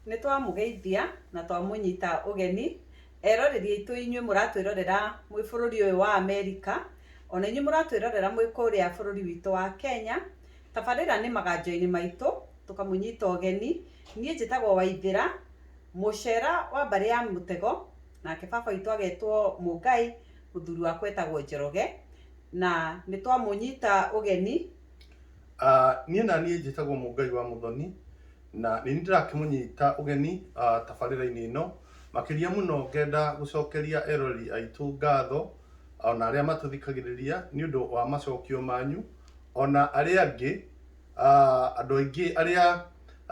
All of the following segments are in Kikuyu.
Nĩ twamũgeithia na twamũnyita ũgeni eroreri aitũ inyuĩ mũratwĩrorera mwĩ bũrũri ũyũ wa Amerika, ona inyuĩ mũratwĩrorera mwĩ kũrĩa bũrũri witũ wa Kenya. Tabarĩra nĩ maganjo-inĩ maitũ tũkamũnyita ũgeni. Niĩ njĩtagwo Waithĩra, mũcera wa mbarĩ ya mũtego, nake baba witũ agetwo Mũngai, mũthuri wakwa etagwo Njoroge. Na nĩ twamũnyita ũgeni Ah, niĩ na niĩ njĩtagwo Mũngai wa Mũthoni na nĩ niĩ ndĩrakĩmũnyita ũgeni ah, tabarĩra-inĩ ĩno makĩria mũno ngenda gũcokeria eroreri aitũ ngatho ona arĩa matũthikagĩrĩria nĩ ũndũ wa macokio manyu ona arĩa angĩ ah, andũ aingĩ arĩa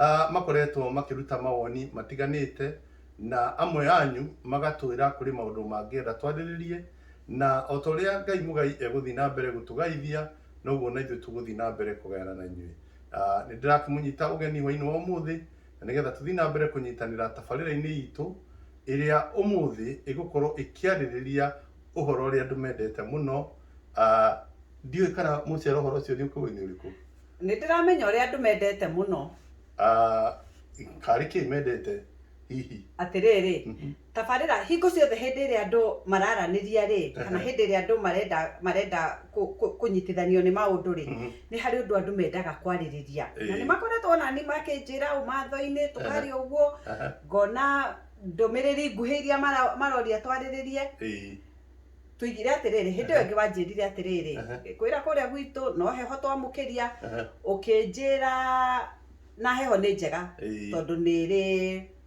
ah, makoretwo makĩruta mawoni matiganĩte na amwe anyu magatwĩra kũrĩ maũndũ mangĩenda twarĩrĩrie na o ta ũrĩa Ngai mũgai egũthiĩ na mbere gũtũgaithia noguo na ithuĩ tũgũthiĩ na mbere kũgayana na inyuĩ. Ah, nĩ ndĩrakĩmũnyita ũgeni hwainĩ wa ũmũthĩ na nĩgetha tũthiĩ na mbere kũnyitanĩra tabarĩra-inĩ itũ ĩrĩa ũmũthĩ ĩgũkorwo ĩkĩarĩrĩria ũhoro ũrĩa andũ mendete mũno. Ah, ndiũĩ kana mũcera ũhoro ũcio nĩ ũkũĩ-inĩ ũrĩkũ. Nĩ ndĩramenya ũrĩa andũ mendete mũno. Ah, karĩ kĩĩ mendete hihi? Atĩrĩrĩ, Tabarĩra hingo ciothe hĩndĩ ĩrĩa andũ mararanĩria-rĩ, kana hĩndĩ ĩrĩa andũ marenda marenda kũnyitithanio nĩ maũndũ-rĩ, nĩ harĩ ũndũ andũ mendaga kwarĩrĩria. Na nĩ makoretwo ona niĩ makĩnjĩra ũmatho-inĩ, tũkaria ũguo, ngona ndũmĩrĩri nguhĩ iria maroria twarĩrĩrie. Tũigire atĩrĩrĩ, hĩndĩ ĩyo ĩngĩ wanjĩrire atĩrĩrĩ, ngĩkwĩra kũrĩa gwitũ no heho twamũkĩria, ũkĩnjĩra na heho nĩ njega tondũ nĩrĩ...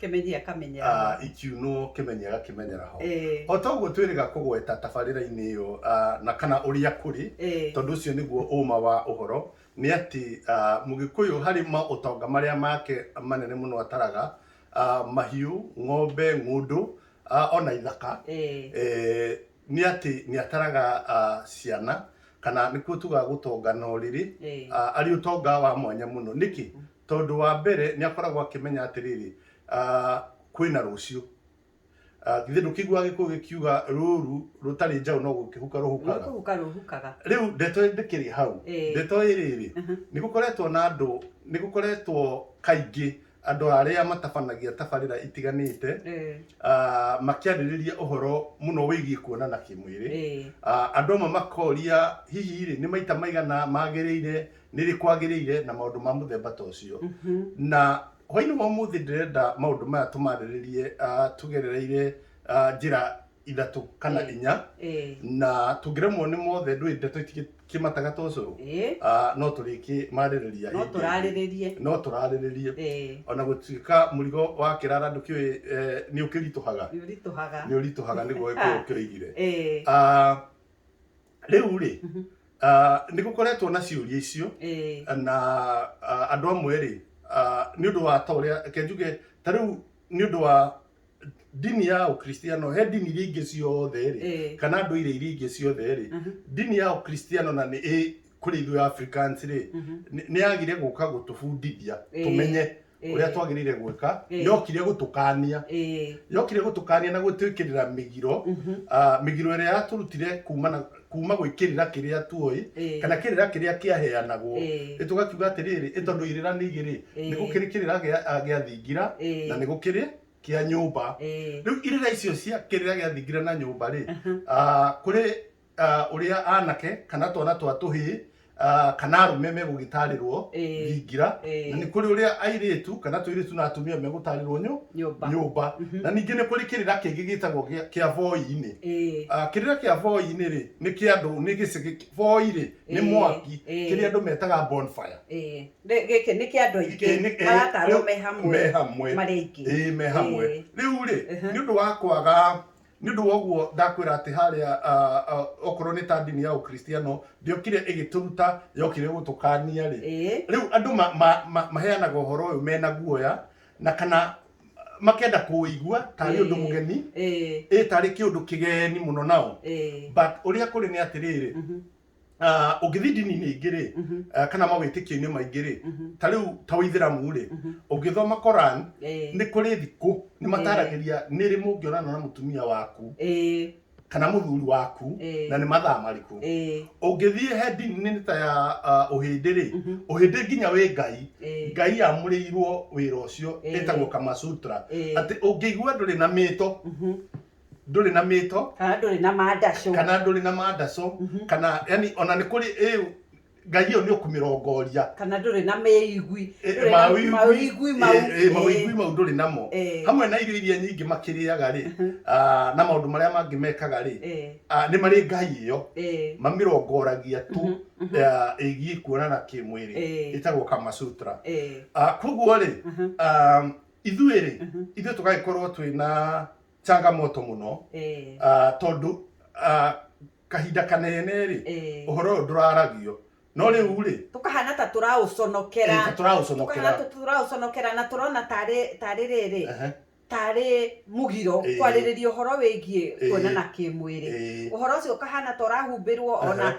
Kĩmenyia kamenyera ho. ah, ikiunwo kĩmenyega kĩmenyera ho Ĩĩ. o toguo twĩrĩga kũgweta tabarĩra-inĩ ĩyo ah, na kana ũrĩa kũrĩ Ĩĩ. tondũ ũcio nĩguo ũma wa ũhoro nĩ atĩ ah, mũgĩkũyũ harĩ maũtonga marĩa make manene mũno ataraga ah, mahiũ ng'ombe ng'ũndũ ah, ona ithaka Ĩĩ. eh, nĩ atĩ nĩ ataraga ah, ciana kana nĩkuo tugaga gũtonga na ũrĩrĩ Ĩĩ. ah, arĩ ũtonga wa mwanya mũno nĩkĩ Tondũ wa mbere nĩ akoragwo akĩmenya atĩrĩrĩ, kwĩna rũciũ. Githĩ ndũkĩiguaga gĩkũyũ gĩkiuga rũru rũtarĩ njaũ no gũkĩhuka rũhukaga? Rũkũhuka rũhukaga. Rĩu ndeto ndĩkĩrĩ hau, ndeto ĩrĩrĩ, nĩ gũkoretwo na andũ, nĩ gũkoretwo kaingĩ andũ arĩa matabanagia tabarĩra itiganĩte makĩarĩrĩria ũhoro mũno wĩgiĩ kuonana kĩmwĩrĩ. Andũ amwe makoria hihi rĩ, nĩ maita maigana magĩrĩire nĩ rĩ kwagĩrĩire na maũndũ ma mũthemba ta ũcio na hwainĩ wa ũmũthĩ ndĩrenda maũndũ maya tũmarĩrĩrie ah, tũgerereire ah, njĩra ithatũ kana Eh. inya Eh, na tũngĩremwo nĩ mothe ndũĩ ndeto itikĩmataga ta ũcũrũ eh, Ah, no tũrĩkĩmarĩrĩria no hĩndĩ ĩngĩ. tũrarĩrĩrie no tũrarĩrĩrie Eh, ona gũtuĩka mũrigo wa kĩrara ndũkĩũĩ eh, nĩ ũkĩritũhaga nĩ ũritũhaga nĩ ũritũhaga nĩguo gĩkũyũ kĩoigire Eh, Ah, rĩu rĩ Mhm. ah, nĩ gũkoretwo na ciũria icio Eh, na ah, andũ amwe rĩ ah, nĩ ũndũ wa ta ũrĩa kenjuge ta rĩu nĩ ũndũ wa ndini ya ũkristiano he ndini iria ingĩ ciothe rĩ eh, kana ndũire iria ingĩ ciothe rĩ mhm, ndini ya ũkristiano na nĩ ĩ kũrĩ ithuĩ africans rĩ mhm. nĩ- nĩ yagire gũka gũtũbundithia Eh. tũmenye Ĩĩ. ũrĩa twagĩrĩire gwĩka Ĩĩ. yokire gũtũkania Ĩĩ. yokire gũtũkania na gwĩtwĩkĩrĩra mĩgiro Mhm. ah, mĩgiro ĩrĩa yatũrutire kuma na- kuma gwĩkĩrĩra kĩrĩa tuoĩ Ĩĩ. kana kĩrĩra kĩrĩa kĩaheanagwo Ĩĩ. Ĩ tũgakiuga atĩrĩrĩ ĩ tondũ irĩra nĩ igĩrĩ Ĩĩ. nĩ gũkĩrĩ kĩrĩra gĩa- ah, gĩa thingira Ĩĩ. na nĩ gũkĩrĩ kĩa nyũmba Ĩĩ. rĩu irĩra icio cia kĩrĩra gĩa thingira na nyũmba rĩ ah, kũrĩ ah, ũrĩa anake kana twana twa tũhĩĩ ah, kana arũme megũgĩtarĩrwo Ĩĩ. thingira Ĩĩ. na nĩ kũrĩ ũrĩa airĩtu kana tũirĩtu na atumia megũtarĩrwo nyũ nyũmba nyũmba Mhm. na ningĩ nĩ kũrĩ kĩrĩra kĩngĩ gĩtagwo gĩa- kĩa voi-inĩ Ĩĩ. Ah, kĩrĩra kĩa voi-inĩ rĩ nĩ kĩa andũ nĩ gĩcigĩ voi rĩ nĩ Ĩĩ, mwaki ĩĩ. kĩrĩa andũ metaga bonfire Ĩĩ. Rĩ- gĩkĩ nĩ kĩa andũ Ĩĩ, aingĩ nĩ- ĩĩ, maratarwo rĩu me hamwe me hamwe marĩ aingĩ Ĩĩ, me hamwe Ĩĩ. rĩu rĩ Mhm. nĩ ũndũ wa kwaga nĩ ũndũ wa ũguo ndakwĩra atĩ harĩa ah, ah, okorwo nĩ ta ndini ya ũkristiano ndĩokire ĩgĩtũruta yokire gũtũkania rĩ Ĩĩ. rĩu andũ ma- ma- ma- maheanaga ũhoro ũyũ mena guoya na kana makenda kũũigua tarĩ ũndũ Ĩĩ. mũgeni Ĩĩ. ĩ tarĩ kĩũndũ kĩgeni mũno nao Ĩĩ. but ũrĩa kũrĩ nĩ atĩrĩrĩ Mhm. ah, ũngĩthiĩ ndini-inĩ ingĩ rĩ Mhm. ah, kana mawĩtĩkio-inĩ maingĩ rĩ Mhm. ta rĩu ta wĩithĩramu rĩ Mhm. ũngĩthoma koran Eh, nĩ kũrĩ thikũ nĩ mataragĩria nĩ rĩ mũngĩonana na mũtumia waku eh, kana mũthuri waku eh, na nĩ mathaa marĩkũ eh, ũngĩthiĩ he ndini-inĩ ta ya ah, ũhĩndĩ rĩ mhm, ũhĩndĩ nginya wĩ ngai eh, ngai yamũrĩirwo wĩra ũcio Eh. ĩtagwo kamasutra eh, atĩ ũngĩigua ndũrĩ na mĩto mhm, ndũrĩ na mĩto kana ndũrĩ na mandacũ kana ndũrĩ na mandacũ Mhm. kana yani ona nĩ kũrĩ ĩu ngai ĩyo nĩ ũkũmĩrongoria kana ndũrĩ na mĩigui Eh, ndũrĩ na mawĩigui- mawĩigui mau eh, eh, mawĩigui mau ndũrĩ namo Eh. hamwe na irio iria nyingĩ makĩrĩaga rĩ ah, na maũndũ marĩa mangĩ mekaga rĩ Eh, ah, nĩ marĩ ngai ĩyo eh, mamĩrongoragia tu Mhm, mhm. ah, ĩgiĩ kuonana kĩmwĩrĩ Eh. ĩtagwo kamasutra eh, Ah, koguo rĩ mhm, ah, ithuĩ rĩ ithuĩ tũgagĩkorwo twĩ na changamoto mũno Eh, ah, tondũ ah, kahinda kanene rĩ eh. ũhoro ũyũ ndũraragio no rĩu rĩ tũkahana ta tũraũconokera eh, tũraũconokera tũkahana ta tũraũconokera na tũrona tarĩ tarĩ rĩrĩ Ehe, tarĩ mũgiro Eh. kwarĩrĩria ũhoro wĩgiĩ Eh. kuonana kĩmwĩrĩ eh, ũhoro ũcio ũkahana ta ũrahumbĩrwo ona Aha.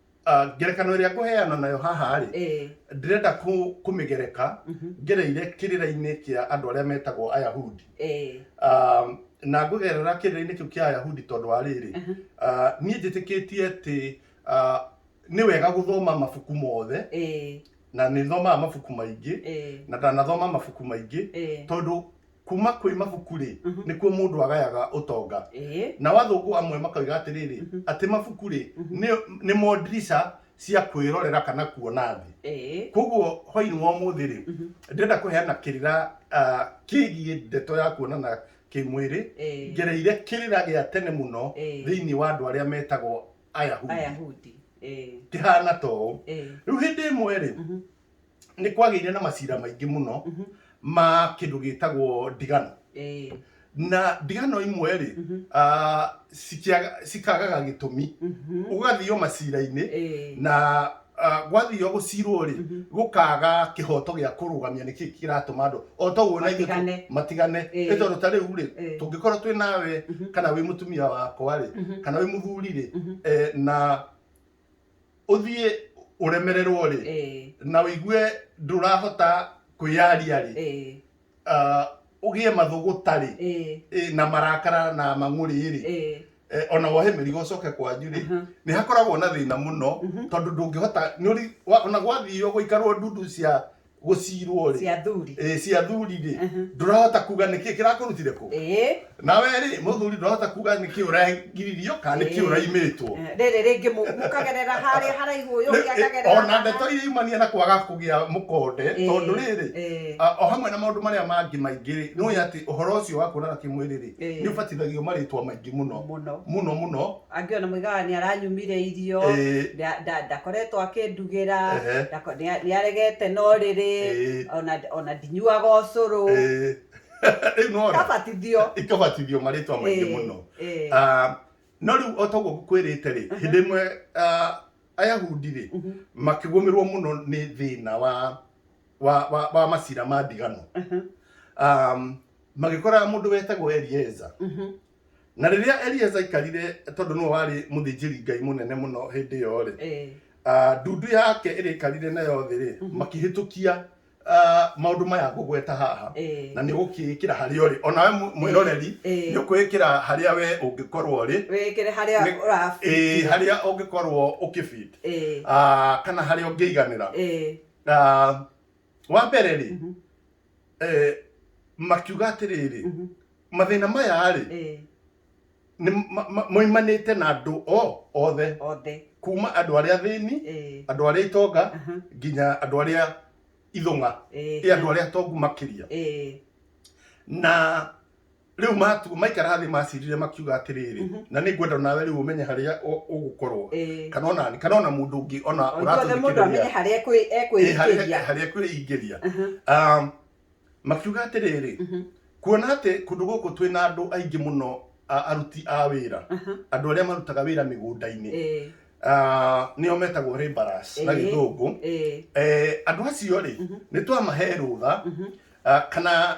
ah, ngerekano ĩrĩa ngũheana nayo haha rĩ Eh, ndirenda kũ- kũmĩgereka mhm, ngereire kĩrĩra-inĩ kĩa andũ arĩa metagwo ayahudi eh, Ah, na ngũgerera kĩrĩra-inĩ kĩu kĩa ayahudi tondũ wa rĩrĩ aha, Ah, niĩ njĩtĩkĩtie atĩ ah, nĩ wega gũthoma mabuku mothe eh, na nĩ thomaga mabuku maingĩ eh, na ndanathoma mabuku maingĩ eh. tondũ kuma kwĩ mabuku-rĩ Mhm. nĩkuo mũndũ agayaga ũtonga Ĩĩ. nao athũngũ amwe makoiga atĩrĩrĩ Mhm. atĩ mabuku-rĩ Mhm. nĩ- nĩmo ndirica cia kwĩrorera kana kuona thĩ Ĩĩ. koguo hwainĩ wa ũmũthĩ-rĩ Mhm. ndĩrenda kũheana kĩrĩra ah, kĩgiĩ ndeto ya kuonana kĩmwĩrĩ Ĩĩ. ngereire kĩrĩra gĩa tene mũno Ĩĩ. thĩinĩ wa andũ arĩa metagwo ayahudi Ayahudi. Ĩĩ. kĩhana ta ũũ Ĩĩ. rĩu hĩndĩ ĩmwe-rĩ Mhm. nĩ kwagĩire na macira maingĩ mũno Mhm. ma kĩndũ gĩtagwo ndigano Eh, na ndigano imwe rĩ mhm, ah, cikĩaga- cikagaga gĩtũmi mhm. ũgathio macira-inĩ Eh, na ah, gwathio gũcirwo rĩ mhm. gũkaga kĩhoto gĩa kũrũgamia nĩkĩ kĩratũma andũ o ta ũguo na ithuĩ Matigane. tũ- matigane Eh. nĩ tondũ ta rĩu rĩ Eh. tũngĩkorwo twĩ nawe Mhm. kana wĩ mũtumia wakwa rĩ Mhm. kana wĩ mũthuri rĩ Mhm. eh, na ũthiĩ ũremererwo rĩ eh. na ũigue ndũrahota kwĩyaria rĩ eh. ah, ũgĩe mathũgũta rĩ eh. na marakara na mang'ũrĩ rĩ ona wohe mĩrigo ũcoke kwanyu rĩ uh-huh. nĩ hakoragwo na thĩna mũno uh-huh. tondũ ndũngĩhota ona gwathio gũikarwo ndundu cia gũcirwo rĩ cia thuri eh, cia thuri rĩ Mhm. ndũrahota kuga nĩkĩ kĩrakũrutire kũ ĩĩ nawe rĩ mũthuri ndũrahota kuga nĩkĩ ũragiririo kana nĩkĩ Eh. ũraimĩtwo Eh, rĩrĩ rĩngĩ mũ- mũkagerera harĩa haraihu ũyũ ũngĩ akagerera ona haha. ndeto iria imania na kwaga kũgĩa mũkonde Eh, tondũ rĩrĩ eh. a- o hamwe na maũndũ marĩa mangĩ maingĩ rĩ nĩ ũĩ atĩ ũhoro ũcio wa kuonana kĩmwĩrĩ rĩ Eh. nĩ ũbatithagio marĩtwa maingĩ mũno Mũno. mũno mũno angĩona mũigaga nĩ aranyumire irio Ĩĩ. nda- nda- ndakoretwo akĩndugĩra Ehe. ndako- nĩa- nĩaregete na ũrĩrĩ Ĩĩ. ona- ona ndinyuaga ũcũrũ Ĩĩ. rĩu nona kabatithio ikabatithio marĩtwa maingĩ mũno Ĩĩ. Ah, no rĩu o toguo ngũkwĩrĩte rĩ hĩndĩ ĩmwe ah, ayahudi rĩ Mhm. makĩgũmĩrwo mũno nĩ thĩna wa wa, wa, wa macira ma ndigano Mhm. um, magĩkora mũndũ wetagwo elieza Mhm. na rĩrĩa elieza aikarire tondũ nĩwe warĩ mũthĩnjĩri ngai mũnene mũno hĩndĩ ĩyo rĩ Eh. ah, ndundu yake ĩrĩkarire nayo thĩ rĩ Mhm. makĩhĩtũkia ah, maũndũ maya ngũgweta haha Eh. na nĩ ũgũkĩĩkĩra harĩa ũrĩ onawe mw- mwĩroreri Eh. nĩ ũkwĩkĩra harĩa we ũngĩkorwo ũrĩ wĩkĩre harĩa Nĩ- ũra eh, harĩa ũngĩkorwo ũkĩbit Eh. ah, kana harĩa ũngĩiganĩra Eh. Ah, wa mbere rĩ Mhm. eh, makiuga atĩrĩrĩ Mhm. mathĩna maya rĩ Eh, nĩ ma- ma- moimanĩte na andũ o othe othe kuma andũ arĩa thĩni Eh, andũ arĩa itonga aha, nginya andũ arĩa ithũng'a eh, ĩ andũ arĩa atongu makĩria eh, na rĩu matu maikara thĩ macirire makiuga atĩrĩrĩ Mhm. na nĩ ngwenda nawe rĩu ũmenye harĩa ũ- ũgũkorwo Ĩĩ. kana ona nĩ- kana ona mũndũ ũngĩ ona O ithuothe mũndũ amenye ũratũthikĩrĩria harĩa ekwi- ĩ, harĩa ekwĩingĩria harĩa kwĩingĩria Mhm, Um, makiuga atĩrĩrĩ mhm, kuona atĩ kũndũ gũkũ twĩ na andũ aingĩ mũno a- aruti a wĩra mhm. andũ arĩa marutaga wĩra mĩgũnda-inĩ Ĩĩ, Ah, nĩo metagwo laborers na Ĩĩ. gĩthũngũ ĩĩ, Eh, andũ acio rĩ Mhm. nĩ twamahe rũtha mhm, ah, kana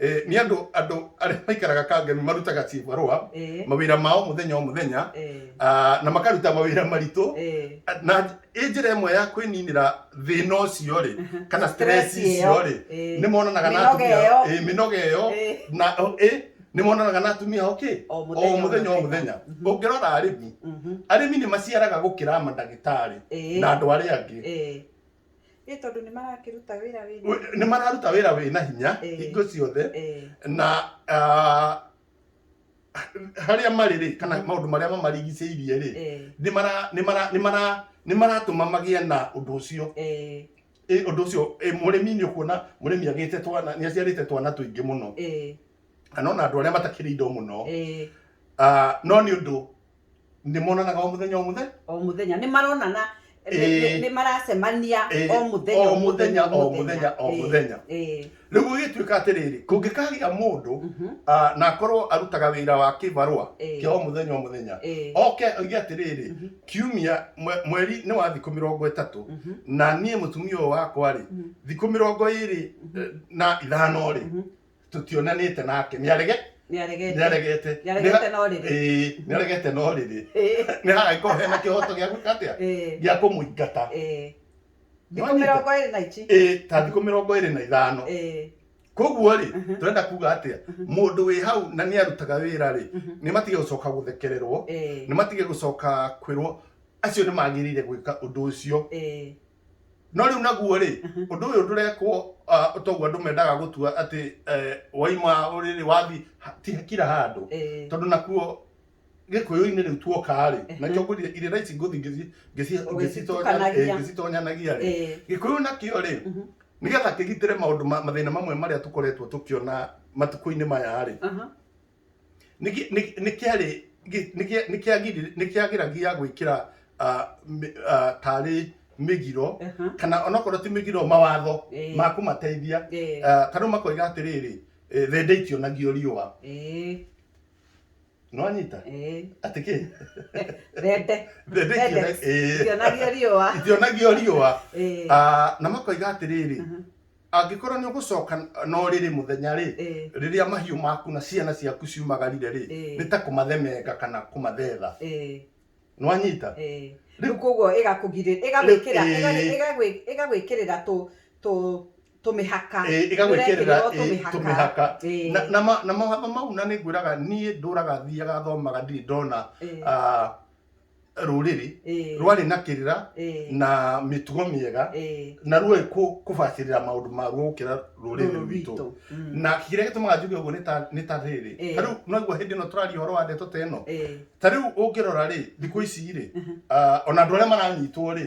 Eh, nĩ andũ andũ arĩa maikaraga kangemi marutaga cibarũa Eh. mawĩra mao mũthenya o mũthenya Eh. ah, na makaruta mawĩra maritũ Eh. na ĩ njĩra ĩmwe ya kwĩninĩra thĩna ũcio rĩ kana stress Stress ĩyo. icio rĩ Eh. nĩ monanaga na Mĩnoga atumia ĩyo. ĩ, mĩnoga ĩyo Eh. na ĩ, nĩ monanaga na atumia ao kĩ O o mũthenya, o mũthenya o mũthenya. mũthenya Mhm. ũngĩrora arĩmi Mhm. arĩmi nĩ maciaraga gũkĩra mandagĩtarĩ Eh. na andũ arĩa angĩ Eh. ĩ tondũ nĩ marakĩruta wĩra wĩna Wĩ- nĩ mararuta wĩra wĩ na hinya Eh. hingo ciothe Eh, na ah, harĩa marĩ rĩ kana Mhm. maũndũ marĩa mamarigicĩirie rĩ eh, nĩ mara- nĩ mara- nĩ mara- nĩ maratũma magĩe na ũndũ ũcio eh, Ĩ, ũndũ ũcio ĩ, mũrĩmi nĩ ũkuona mũrĩmi agĩte twana nĩ aciarĩte twana tũingĩ mũno eh, kana ona andũ arĩa matakĩrĩ indo mũno eh, Ah, no nĩ ũndũ nĩ monanaga o mũthenya o mũthenya o mũthenya nĩ maronana Ĩĩ. nĩ maracemania Ĩĩ, o mũthenya o mũthenya o mũthenya o Ĩĩ, mũthenya ĩĩ. rĩu gũgĩtuĩka atĩrĩrĩ kũngĩkagĩa mũndũ Mhm, ah, na akorwo arutaga wĩra wa kĩbarũa Ĩĩ. kĩa o mũthenya o mũthenya ĩĩ, oke oige atĩrĩrĩ Mhm. kiumia mwe- mweri nĩ wa thikũ mĩrongo ĩtatũ mhm, na niĩ mũtumia ũyũ wakwa-rĩ Mhm. thikũ mĩrongo ĩrĩ Mhm. eh, na ithano-rĩ mhm, tutionanite nake ni arege ni aregete ni aregete Nĩ aregete no rĩrĩ. eh ni aregete no riri Ĩĩ, ni hagaikorwo hena kihoto gia gwika atia ĩĩ, gia kumuingata ĩĩ. thikå Nĩwanyita? mä rongo ä rä na ici eh ta thiku mirongo iri na ithano Ĩĩ, koguo rĩ Mhm. turenda kuga atia mundu wi hau na ni arutaga wira rĩ Mhm. ni matige gucoka guthekererwo ĩĩ, ni matige gucoka kwirwo acio ni magirire gwika undu ucio ĩĩ. no rĩu naguo rĩ Aha. ũndũ ũyũ ndũrekwo ah, toguo andũ mendaga gũtua atĩ eh, waima ũrĩrĩ wathi kira handũ Eh, tondũ nakuo gĩkũyũ-inĩ rĩu tuokaa rĩ Ehe. nakĩo ngũthi irĩra ici ngũthi ngĩci- ngĩci- Ũgĩcitukanagia. ngĩcitonya- eh, ngĩcitonyanagĩa rĩ eh, gĩkũyũ nakĩo rĩ mhm, nĩgetha kĩgitĩre maũndũ ma- mathĩna mamwe marĩa tũkoretwo tũkĩona matukũ-inĩ maya rĩ aha, nĩkĩagĩragia gwĩkĩra tarĩ mĩgiro kana onokorwo ti mĩgiro mawatho ma kũmateithia ta rĩu makoiga atĩrĩrĩ thenda itionagio riũa nĩwanyita atĩ kĩ thenda itionagio riũa na makoiga atĩrĩrĩ angĩkorwo nĩ ũgũcoka no rĩrĩ mũthenya rĩ Eh, rĩrĩa mahiũ maku na ciana ciaku ciumagarire rĩ Eh. nĩ ta kũmathemenga kana kũmathetha eh, nĩwanyita eh. Rĩu- rĩu koguo ĩgakũgirĩ- ĩgagwĩkĩra- Rĩu- ĩga- eh. ĩgagwĩ- ĩgagwĩkĩrĩra tũ- tũ- tũmĩhaka Eh, ĩgagwĩkĩrĩra Nĩũrekĩrĩrwo eh, tũmĩhaka. tũmĩhaka Eh, Na- na ma- na mawatho mau na nĩ ngwĩraga niĩ ndũraga thiaga thomaga ndirĩ ndona eh, ah, rũrĩrĩ Ĩĩ. rwarĩ na kĩrĩra Ĩĩ. na mĩtugo mĩega Ĩĩ. na ruoĩ kũ- kũbacĩrĩra maũndũ maguo gũkĩra rũrĩrĩ Rũrũ rwitũ rwitũ. Mm. na kĩrĩa gĩtũmaga njuge ũguo nĩ ta- nĩ ta rĩrĩ Ĩĩ. ta rĩu noguo hĩndĩ ĩno tũraria ũhoro wa ndeto ta ĩno Ĩĩ. ta rĩu ũngĩrora rĩ thikũ ici rĩ ah, ona andũ arĩa maranyitwo rĩ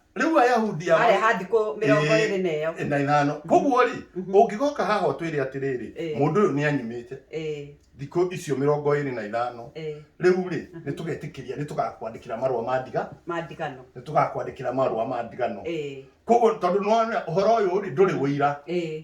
rĩu ayahudi aya marĩ ha thikũ mĩrongo Ĩĩ. ĩrĩ na ĩyo na ithano koguo rĩ Mhm. ũngĩgoka haha ũtwĩre atĩrĩrĩ Ĩĩ. mũndũ ũyũ nĩ anyimĩte Ĩĩ, thikũ icio mĩrongo ĩrĩ na ithano ĩĩ, rĩu rĩ Mhm. nĩ tũgetĩkĩria nĩ tũgakwandĩkĩra marũa ma ndiga mandigano nĩ tũgakwandĩkĩra marũa ma ndigano Ĩĩ, koguo tondũ nĩwona ũhoro ũyũ rĩ ndũrĩ ũira ĩĩ,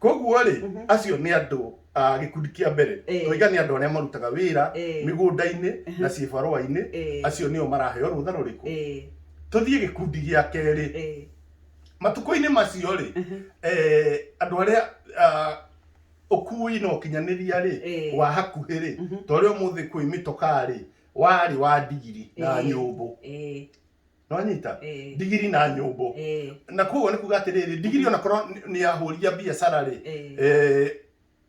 koguo rĩ Mhm. acio nĩ andũ a gĩkundi kĩa mbere Eh. tũiga nĩ andũ arĩa marutaga wĩra Eh. mĩgũnda-inĩ na Mhm. ciĩbarũa-inĩ Eh. acio nĩo maraheo rũtha rũrĩkũ Eh, tũthiĩ gĩkundi gĩa kerĩ eh, matukũ-inĩ macio rĩ mhm. eh, andũ arĩa ah, ũkui na ũkinyanĩria rĩ Eh. wa hakuhĩ rĩ Mhm. ta ũrĩa ũmũthĩ kwĩ mĩtokaa rĩ warĩ wa ndigiri na Eh. nyũmbũ Eh, nonyita Eh. ndigiri na nyũmbũ Eh, na koguo nĩ kuga atĩrĩrĩ ndigiri ona korwo nĩ- nĩ yahũria biacara rĩ eh, eh,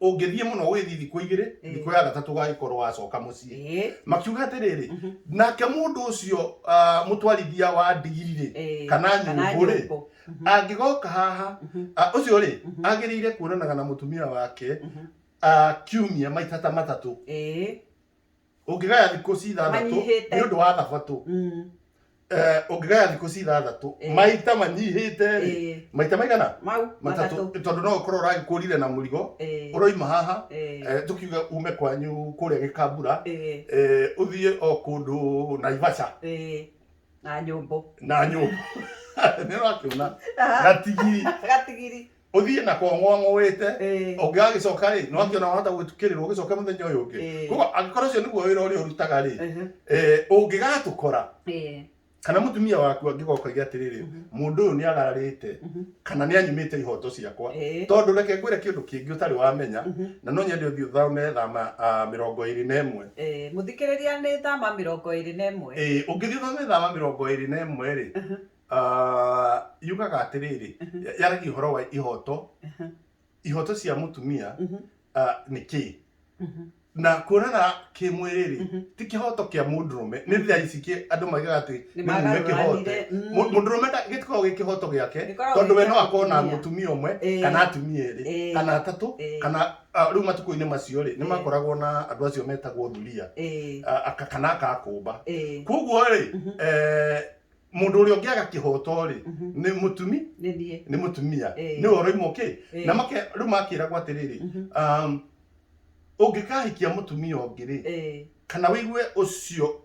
ũngĩthiĩ mũno ũgĩthiĩ thikũ igĩrĩ Eh. thikũ ya gatatũ ũgagĩkorwo wacoka mũciĩ eh, makiuga atĩrĩrĩ mhm, nake mũndũ ũcio ah, mũtwarithia wa ndigiri rĩ eh, kana kana nyũmbũ rĩ nyũmbũ. Mhm, angĩgoka haha mhm, ah, ũcio rĩ Mhm. agĩrĩire kuonanaga na mũtumia wake mhm, ah, kiumia maita ta matatũ eh, ũngĩgaya thikũ ci ithathatũ Manyihĩte. nĩ ũndũ wa thabatũ Mm. Eh, ũngĩgaya thikũ ci ithathatũ Eh. maita manyihĩte rĩ Eh. maita maigana Mau matatũ matatũ. tondũ no ũkorwo ũragĩkũrire na mũrigo Eh. ũroima haha Eh. eh, tũkiuga ume kwanyu kũrĩa gĩkambura Eh. eh, ũthiĩ o kũndũ naivasha Eh. Na nyũmbũ. na nyũmba nĩ ũrakĩona Ah. gatigiri Gatigiri. ũthiĩ na kong'oang'ũĩte Ĩĩ. ũngĩgagĩcoka rĩ nĩ wakĩona wahota gwĩtukĩrĩrwo ũgĩcoke mũthenya ũyũ ũngĩ Ĩĩ. koguo angĩkorwo ũcio nĩguo wĩra ũrĩa ũrutaga rĩ Ehe. eh, ũngĩgatũkora Ĩĩ. kana mũtumia waku angĩgoka iga atĩrĩrĩ mũndũ ũyũ nĩ agararĩte kana nĩ anyimĩte ihoto ciakwa Ĩĩ. tondũ reke ngwĩre kĩndũ kĩngĩ ũtarĩ wamenya na no nyende ũthiĩ ũthome thama ah, mĩrongo ĩrĩ na ĩmwe Ĩĩ. mũthikĩrĩria nĩ thama mĩrongo ĩrĩ na ĩmwe Ĩĩ, ũngĩthiĩ ũthome thama mĩrongo ĩrĩ na ĩmwe rĩ Ah, yugaga atĩrĩrĩ yaragia ũhoro wa ihoto ihoto cia mũtumia ah, nĩ kĩĩ na kuonana kĩmwĩrĩ rĩ ti kĩhoto kĩa mũndũrũme nĩ rĩrĩa ici kĩ- andũ maigaga atĩ nĩ mũme kĩhote Nĩmagaruranire, mm. Mũ- mũndũrũme nda- gĩtikoragwo gĩ kĩhoto gĩake Gĩkoragwo tondũ we gĩ no kĩa akorwo na mũtumia. mũtumia ũmwe Eh. kana atumia erĩ Eh. kana atatũ Eh. kana ah, rĩu matukũ-inĩ macio rĩ nĩ makoragwo na andũ acio metagwo thuria Eh, ah, aka- kana akakũmba eh, koguo rĩ eh, mundu uria ungi agakihoto ri ni mutumi ni mutumia ni oroimo ki na make ru makiragwo atiriri um ungikahikia mutumia ungi ri kana wigue ucio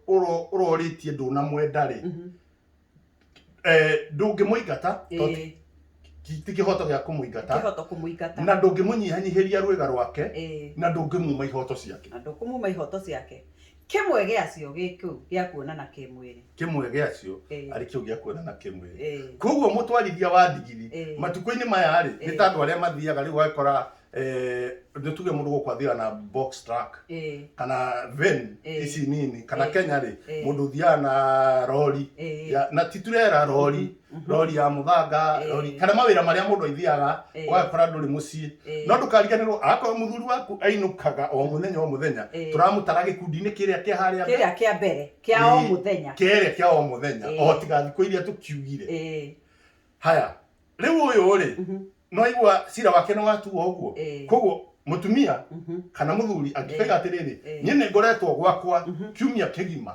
uroritie nduna mwenda ri eh ndungi muingata ti kihoto gia kumuingata na ndungi munyihanyihiria rwega rwake na ndungi muma ihoto ciake na ndungi muma ihoto ciake Kĩmwe gĩacio gĩ kĩu gĩa kuonana kĩmwĩrĩ. Kĩmwe gĩacio Ĩĩ. arĩ kĩu gĩa kuonana kĩmwĩrĩ. Ĩĩ. Kwoguo mũtwarithia wa ndigiri Ĩĩ. matukũ-inĩ maya rĩ, nĩ Ĩĩ. ta andũ arĩa mathiaga rĩu ũgakora eh, nĩ tuge mũndũ gũkũ athiaga na box truck Ĩĩ. kana van Ĩĩ. ici nini kana Ĩĩ. Kenya rĩ Ĩĩ. mũndũ ũthiaga na rori Ĩĩ. ya- na ti turera rori Mhm. rori ya muthanga eh. rori kana mawira maria mundu aithiaga eh. wagakora nduri mucii eh. no ndukariganirwo akorwo muthuri waku ainukaga o muthenya o muthenya turamutara gikundi-ini kiria kia haria kiria kia mbere kia o muthenya kiria kia o muthenya o tiga thiku iria tukiugire haya riu uyu ri mhm. no igua cira wake ni watuo uguo koguo mutumia mhm. kana muthuri angikega atiriri nie ni ngoretwo gwakwa kiumia kigima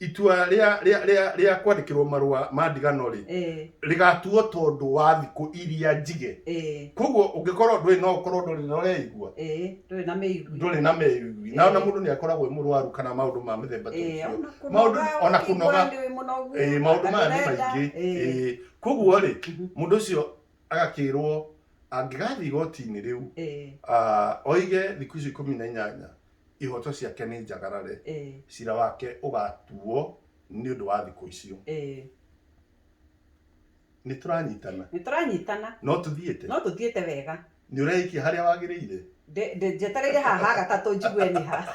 itua rĩa rĩa rĩa rĩa kwandĩkĩrwo marũa ma ndigano rĩ eh, rĩgatuo tondũ wa thikũ iria njige eh, koguo ũngĩkorwo ndũrĩ no ũkorwo ndũrĩ na ũreigua eh, ndũrĩ na mĩigwi ndũrĩ na merugui na ona Eh. mũndũ nĩ akoragwo e mũrwaru kana maũndũ ma mĩthemba ta Eh, ũcio ona Maũndũ- kũnoga, ona ũkĩigua kũnoga. nĩ wĩ mũnogu, Eh, maũndũ maya nĩ ndũrenda, maingĩ eh, Eh, koguo rĩ mhm, mũndũ ũcio agakĩrwo angĩgathiĩ igoti-inĩ rĩu eh, ah, oige thikũ icio ikũmi na inyanya ihooto ciake nĩ njagarare, Ĩĩ. cira wake ũgaatuo nĩ ũndũ wa thikũ icio. Ĩĩ. Nĩ tũranyitana? Nĩ tũranyitana. No tũthiĩte? No tũthiĩte wega. Nĩ ũreĩkia harĩa wagĩrĩire? Ndĩ- ndĩ- Njetereire haha ha gatatũ njigue nĩ ha.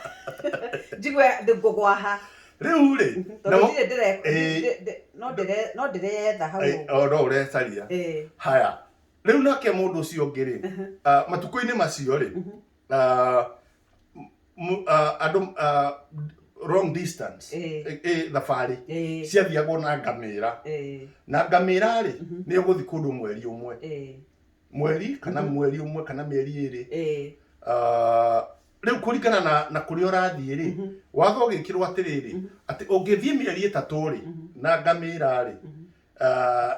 Njigue ndĩ- ngũgwa ha. Rĩu-rĩ, Tondũ namo- ndirĩ ndĩre- Ĩĩ. ndĩ- ndĩ- no ndĩre- no ndĩreyetha hau Ĩĩ, ũguo. o no ũrecaria. Ĩĩ. Haya. Rĩu nake mũndũ ũcio ũngĩ-rĩ, ah, matukũ-inĩ macio-rĩ, uh, mu- uh, andũ uh, long distance Eh. eh, eh, thabarĩ Eh. ciathiagwo na ngamĩra Eh, na ngamĩra rĩ nĩ ũgũthi kũndũ mweri ũmwe eh, mweri kana mweri ũmwe kana mĩeri ĩrĩ eh, Ah, rĩu kũringana na, na kũrĩa ũrathiĩ rĩ watho ũgĩkĩrwo atĩrĩrĩ atĩ ũngĩthiĩ mĩeri ĩtatũ rĩ na ngamĩra rĩ ah,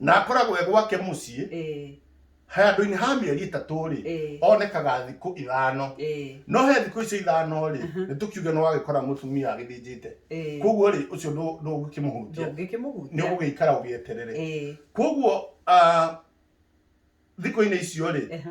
na akoragwo e gwake mũciĩ eh, handũ-inĩ ha mĩeri ĩtatũ rĩ eh, onekaga thikũ ithano eh, no he thikũ icio ithano rĩ Mhm. nĩ tũkiuge nĩ wagĩkora mũtumia agĩthĩnjĩte eh. koguo rĩ ũcio ndũ- ndũngĩkĩmũhunjia nĩ ndũngĩkĩmũhunjia ũgũgĩikara ũgĩeterere Eh, koguo ah, thikũ-inĩ icio rĩ ehe,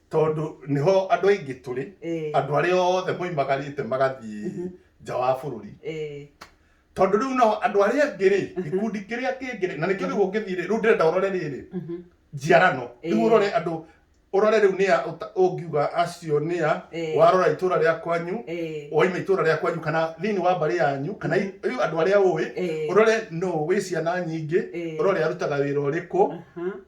tondũ nĩho andũ aingĩ tũrĩ eh, andũ arĩa othe moimagarĩte magathiĩ Mhm. nja wa bũrũri eh, tondũ rĩu no andũ arĩa angĩ rĩ Mhm. gĩkundi kĩrĩa kĩngĩ rĩ na nĩkĩo rĩu ũngĩthiĩ rĩ rĩu ndĩrenda ũrore rĩrĩ mhm, njiarano rĩu Eh. ũrore andũ ũrore rĩu nĩa ũta- ũngiuga acio nĩa eh, warora itũra rĩa kwanyu eh, waima itũra rĩa kwanyu kana thĩinĩ wa mbarĩ yanyu kana i- rĩu andũ arĩa ũĩ eh, ũrore no wĩ ciana nyingĩ eh, ũrore arutaga wĩra ũrĩkũ aha,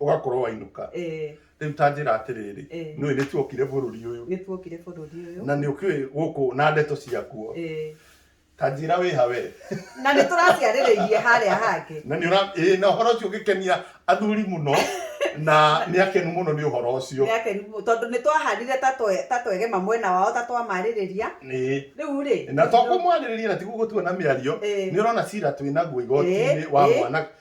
ũgakorwo wainũka eh, rĩu ta njĩra atĩrĩrĩ Eh. nĩ nĩ tuokire bũrũri ũyũ nĩ tuokire bũrũri ũyũ na nĩ ũkĩũĩ gũkũ na ndeto ciakuo Eh, ta njĩra wĩha we na nĩ tũraciarĩrĩirie harĩa hangĩ na nĩ ũra- ĩĩ, na ũhoro ũcio ũgĩkenia athuri mũno na nĩ akenu mũno nĩ ũhoro ũcio Nĩ akenu mũno, tondũ nĩ twahanire ta twe- ta twegema mwena wao ta twamarĩrĩria Ĩĩ. rĩu rĩ na to kũmwarĩrĩria na tiguo gũtua na mĩario Eh. nĩ ũrona cira twĩ naguo igoti-inĩ Eh, wa eh. mwana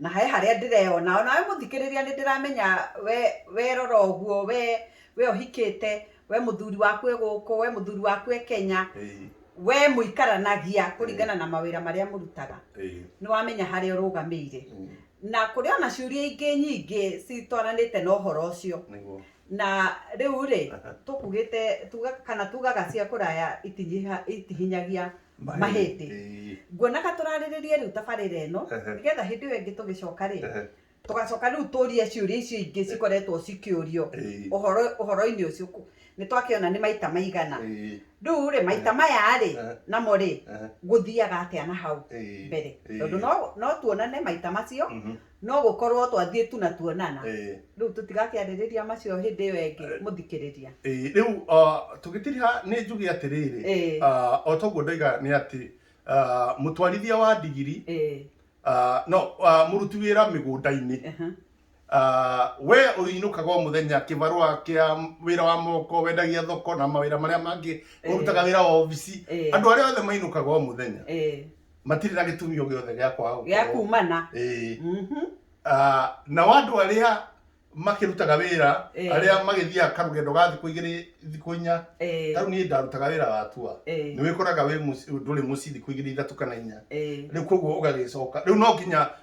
na he harĩa ndĩreyona ona we mũthikĩrĩria nĩ ndĩramenya we we rora ũguo we we ũhikĩte we mũthuri waku e gũkũ we mũthuri waku e Kenya Ĩĩ, we mũikaranagia kũringana na mawĩra marĩa mũrutaga ĩĩ, nĩ wamenya harĩa ũrũgamĩire mm, na kũrĩ ona ciũria ingĩ nyingĩ citwaranĩte na ũhoro ũcio nĩguo na rĩu rĩ Aha. tũkugĩte tuga kana tugaga cia kũraya itinyiha- itihinyagia mahĩtĩ Ĩĩ. nguonaga tũrarĩrĩrie rĩu tabarĩra ĩno Ehe. nĩgetha hĩndĩ ĩyo ĩngĩ tũgĩcoka rĩ Ehe. tũgacoka rĩu tũrie ciũria icio ingĩ cikoretwo cikĩũrio Ĩĩ. ũhoro ũhoro-inĩ ũcio ku- nĩ twakĩona nĩ maita maigana Ĩĩ. rĩu rĩ maita maya rĩ Ehe. namo rĩ Ehe. gũthiaga atĩa na hau Ĩĩ. mbere Ĩĩ. tondũ no- no tuonane maita macio Mhm. no gũkorwo twathiĩ tu na tuonana Eh, rĩu tũtigakĩarĩrĩria macio hĩndĩ ĩyo ĩngĩ Eh. mũthikĩrĩria eh, rĩu ah, tũgĩtiriha nĩ njuge atĩrĩrĩ Eh. ah, o toguo ndaiga nĩ atĩ ah, mũtwarithia wa ndigiri Eh, ah, no ah, mũruti wĩra mĩgũnda-inĩ aha. Ah, we ũinũkaga o mũthenya kĩbarũa kĩa wĩra wa moko wendagia thoko na mawĩra marĩa mangĩ Eh. ũrutaga wĩra wa obici Eh. andũ arĩa othe mainũkaga o mũthenya Eh, matirĩ na gĩtumi o gĩothe gĩa kwaga gĩa gũkorwo kumana Ĩĩ. Mhm. Ah, nao andũ arĩa makĩrutaga wĩra Ĩĩ. arĩa magĩthiaga karũgendo ga thikũ igĩrĩ thikũ inya Ĩĩ. tarĩu niĩ ndarutaga wĩra wa tua Ĩĩ. nĩ wĩkoraga wĩ mũci- ndũrĩ mũciĩ thikũ igĩrĩ ithatũ kana inya Ĩĩ. rĩu koguo ũgagĩcoka rĩu no nginya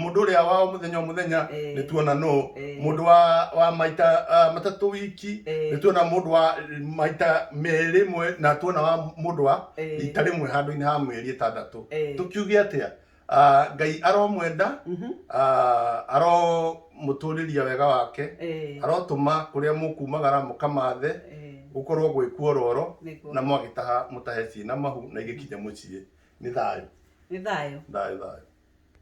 mũndũ ũrĩa wa o mũthenya o mũthenya Eh. nĩ tuona no Eh. mũndũ wa wa maita ah, matatũ wiki Eh. nĩ tuona mũndũ wa maita merĩ mwe na tuona wa mũndũ wa Eh. rita rĩmwe handũ-inĩ ha mĩeri ĩtandatũ Eh. tũkiuge atĩa Ah, ngai aromwenda Mhm. ah, aromũtũrĩria wega wake Eh. arotũma kũrĩa mũkumagara mũkamathe Eh. gũkorwo gwĩ kuororo Nĩguo. na mwagĩtaha mũtahe ciĩ na mahu na igĩkinya mũciĩ nĩ thayũ nĩ thayũ thayũ thayũ